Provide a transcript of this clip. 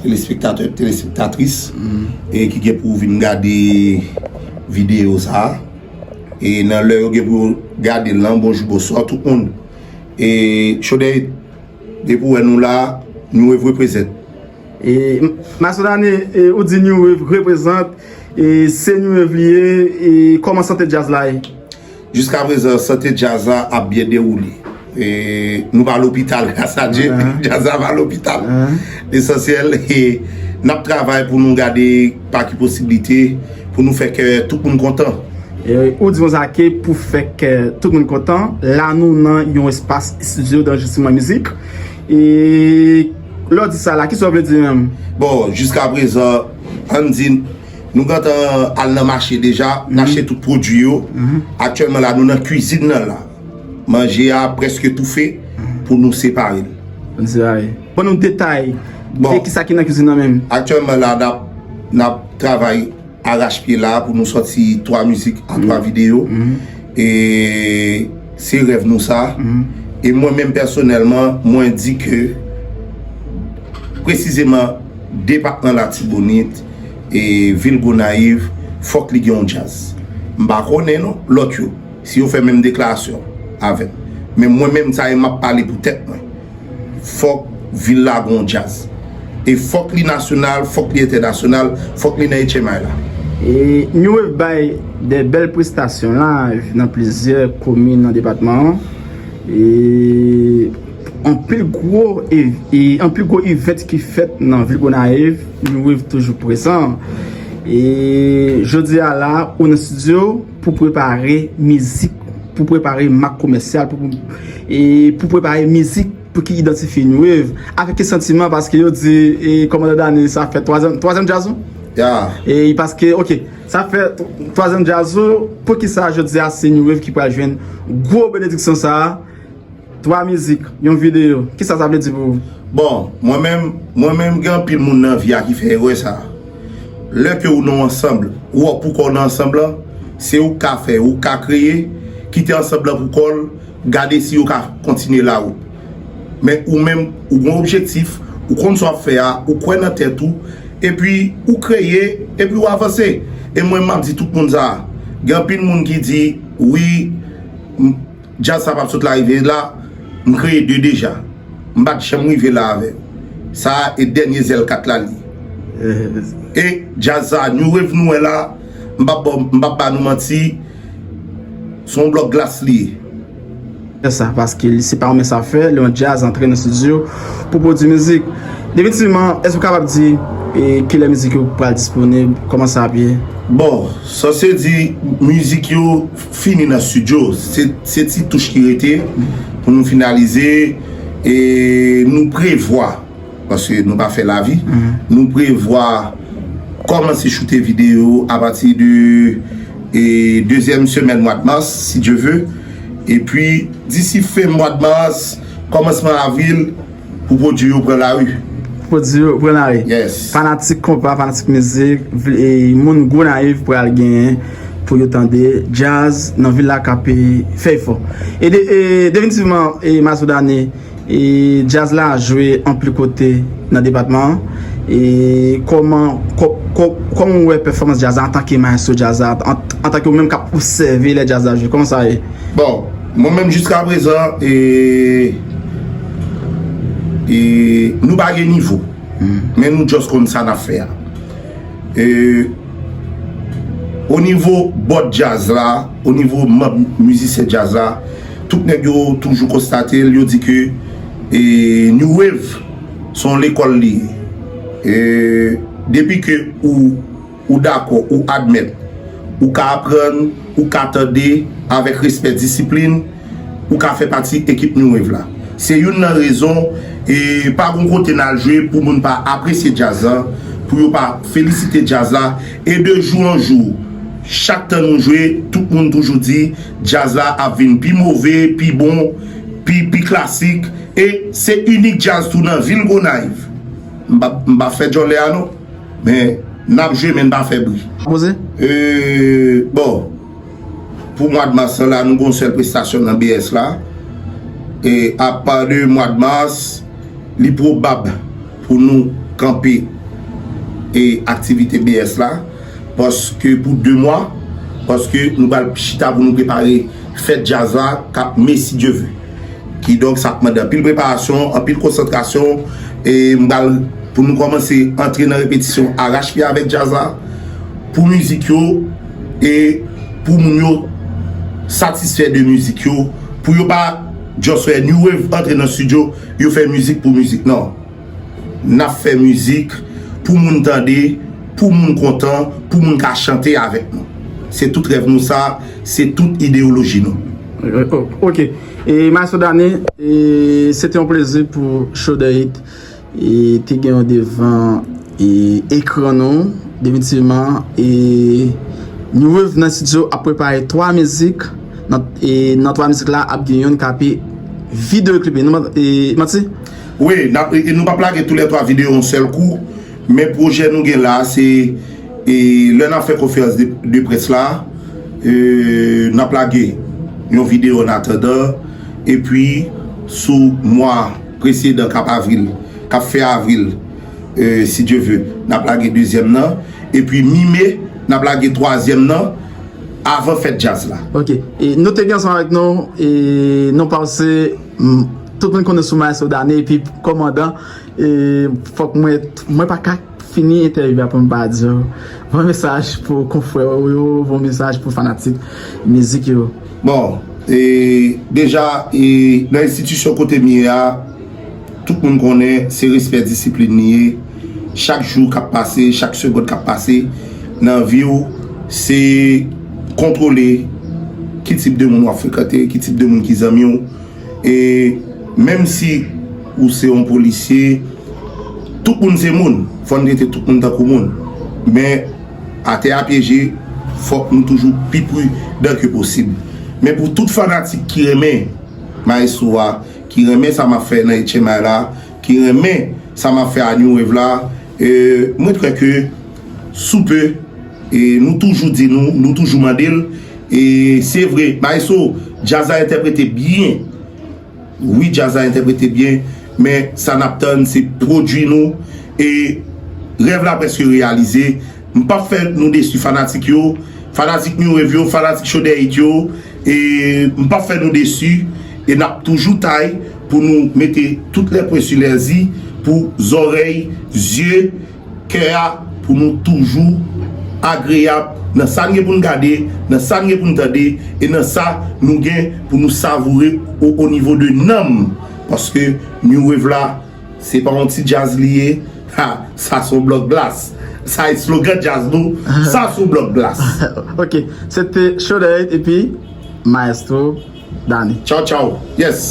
Telespektatè, telespektatris ki gen pou vin gade videyo sa a, e nan lè yo gen pou yo gade l lan, bonjou, bonswa tout moun. E Chodèy, depi ou wè nou la, New Wave represent. Masodani, ou di New Wave represent, se New Wave li ye, e kòman sante djaz la ye? Jiska prezan sante djaz la ap byen dewoule. Nou pa lopital gras a Dye, djaz la pa lopital. Lesansyèl e n ap travay pou nou gade pa ki posiblite pou nou fè kè tout moun kontan. Ou di konsa ke pou fè kè tout moun kontan, la nou nan yon espas estidyo danrejistriman mizik. E lè w di sa la, kisa w vle di menm? Bon, jiska prezan, an n di. Nou gentan al nan mache deja, n achte tout pwodui yo. Aktyèlman la nou nan kwizin nan la. Manje a prèske toufe pou nou separe l. Pou nou separe l. Ban nou detay de kisa ki nan kwizin nan menm. Aktyèlman la n ap travay arachpye la pou nou sòti 3 mizik an 3 videyo. E se rèv nou sa. E mwen menm pèsonèlman mwen di ke presizeman depatman Latibonit. e vil Gonayiv fòk li gen yon djaz. M pa konnen non lòt yo si yo fè menm deklarasyon avèm. Men mwen menm sa e map pale pou tèt mwen. Fòk vil la gen yon djaz. E fòk li nasyonal, fòk li entènasyonal, fòk li nan HMI la. E New Wave bay de bèl prestasyon live nan plizyè komin nan depatman an. E. Anpil gwo event ki fèt nan vil Gonayiv, New Wave toujou prezan. E jodi a la ou nan studio pou prepare mizik, pou prepare mak komèsyal, pou prepare mizik pou ki idantifye New Wave. Avèk ki santiman paske yo di kòmandan Dany sa fè twazyèm djaz ou? Ya. E paske ok, sa fè twazyèm djaz ou, poukisa jodi a se New Wave ki pral jwenn gwo benediksyon sa a? 3 mizik, yon videyo, kisa sa vle di pou ou? Bon, mwen menm, mwen menm gen anpil moun nan vi a ki fè erè sa. Lè ke ou nan yon ansanb, ou ap pou kò w nan ansanb lan, se ou k ka fè, ou k ka kreye, kite ansanb lan pou kò l, gade si yo ka kontinye lawout. Men ou menm, ou gen yon objektif, ou konn sa w ap fè a, ou kwè nan tèt ou, epi ou kreye, epi ou avanse. E mwen menm m ap di tout moun sa, gen anpil moun ki di, wi, m. Jazz sa pap sot la rive la m kreye 2 deja m pat janm rive la avè sa e dènye zèl 4 la li e jazz sa new wave nou wè la m pap baw m pap ba nou manti son blòk glas li ye. Fè sa paske li se pa yon mens afè lè yon jazz antre nan studio pou pwodwi mizik definitivman èske ou kapab di kilè mizik yo pral disponib kòman sa ap ye? Bon sa se di mizik yo. fini nan studio se ti touch ki rete pou nou finalize e nou prevwa paske nou pa fè lavi nou prevwa kòmanse choute video apati de e dezyèm semèn mwad mars si Dye ve e pi disi fen mwad mars kòmansman avril Pou pwodui yo pran lari. Pwodui yo pran lari. Yes. Fanatik konpa, fanatik mizik, e moun Gonayiv pral genyen pou yo tande djaz nan vil la k ape fè efò. E definitivman e Masoudani e djaz la jwe anpli kote nan depatman an. E kòman kòman ou wè pèfòmans djaz la antanke mayestwo djaz la, antanke ou menm k ap obsève lè djaz la jwe, kòman sa ye? Bon. Mwen menm jiska prezan e e nou pa gen nivo men nou just konn sa nap fè a e o nivo bòt djaz la o nivo manb mizisyen djaz la tout nèg yo toujou konstate l yo di ke e new wave son lekòl li ye e depi ke ou Ou dakò, ou admèt. Ou ka aprann, ou ka tande, avèk respè disiplin, ou ka fè pati ekip New Wave la. Se youn nan rezon, e pa gon kote n al jwe pou moun pa apresye djaz la, pou yo pa felisite djaz la, e de jou an jou, chak tan nou jwe, tout moun toujou di, djaz la ap vin pi move, pi bon, pi, pi klasik, e se inik djaz tou nan vil Gonayiv. M pa, m pa fè djòlè a non. Men nap jwe men pa fè bri. Bon pou mwad mas lan la nou gon sèl prestasyon nan BS la. E apa de mwad mas li pwobab pou nou kanpe e aktivite BS la. Paske pou 2 mwa. Paske nou pral chita pou nou prepare fèt jazz la kap me si Dye ve. Kidonk sa ap mande anpil preparasyon, anpil konsantrasyon e m pral pou nou kòmanse antre nan repetisyon arachpye avèk djaz la pou mizik yo e pou moun yo satisfè de mizik yo pou yo pa just fè new wave antre nan studio yo fè mizik pou mizik nan. Nap fè mizik pou moun tande, pou moun kontan, pou moun ka chante avèk nou. Se tout rèv nou sa, se tout ideyoloji nou. Ok, e maestro Dany, se te yon plezi pou Shoulder Hit te gen w devan ekran nou, definitivman, e nou wè w nan studio ap prepare 3 mizik, e nan 3 mizik la ap gen yon kape videyo klipe, manti? Wi, nap e nou pap lage tou lè 3 video yon sèl kou, men pwojè nou gen la se e lè nap fè konferans de près la e nap lage yon video an atandan e pi sou mwa presedan kap avril kap fen avril e si Dye ve nap lage dezyèm nan e pi mi me nap lage twazyèm nan avan fèt djaz la. Ok, e nou te gen ansanm avèk nou e nou panse. Tout moun konnen sou maestro Danie epi kòmandan e fòk mwen mwen pa ka fini entèvyou a pou m pa di yo bon mesaj pou konfrè ou yo bon mesaj pou fanatik mizik yo. Bon e deja e nan enstitisyon kote m ye a tout moun konnen se respè disiplin li ye. Chak jou kap pase, chak segond kap pase nan viw se kontwole ki tip de moun wap frekante, ki tip de moun ki zanmiw e menm si ou se yon polisye tout moun se moun fò nou trete tout moun tankou moun men atè a pyeje fòk nou toujou pi pridan ke posib men pou tout fanatik ki renmen maestro a, ki renmen sa map fè nan etchenmay la ki renmen sa map fè a new wave la e mwen kwè ke sou pe e nou toujou di nou nou toujou mandel e se vre maestro djaz la entèprete byen wi djaz la entèprete byen men sa nap tann se pwodwi nou e rèv la preske reyalize M pap fè nou desu fanatik yo, fanatik new wave yo, fanatik chode hit yo e m pap fè nou desu e nap toujou tay pou nou mete tout lè pwen su lè zi pou zòrèy, zye, kè a pou nou toujou agreyab nan sa n gen pou n gade, nan sa n gen pou n tande e nan sa nou gen pou nou savoure o nivo de nanm paske new wave la. Se pa yon ti djaz li ye, ha, sa son blòk glas. Sa eslogan djaz nou, sa son blòk glas. Ok, se te Shodaid epi Maestro Dany. Tchaw tchaw, yes!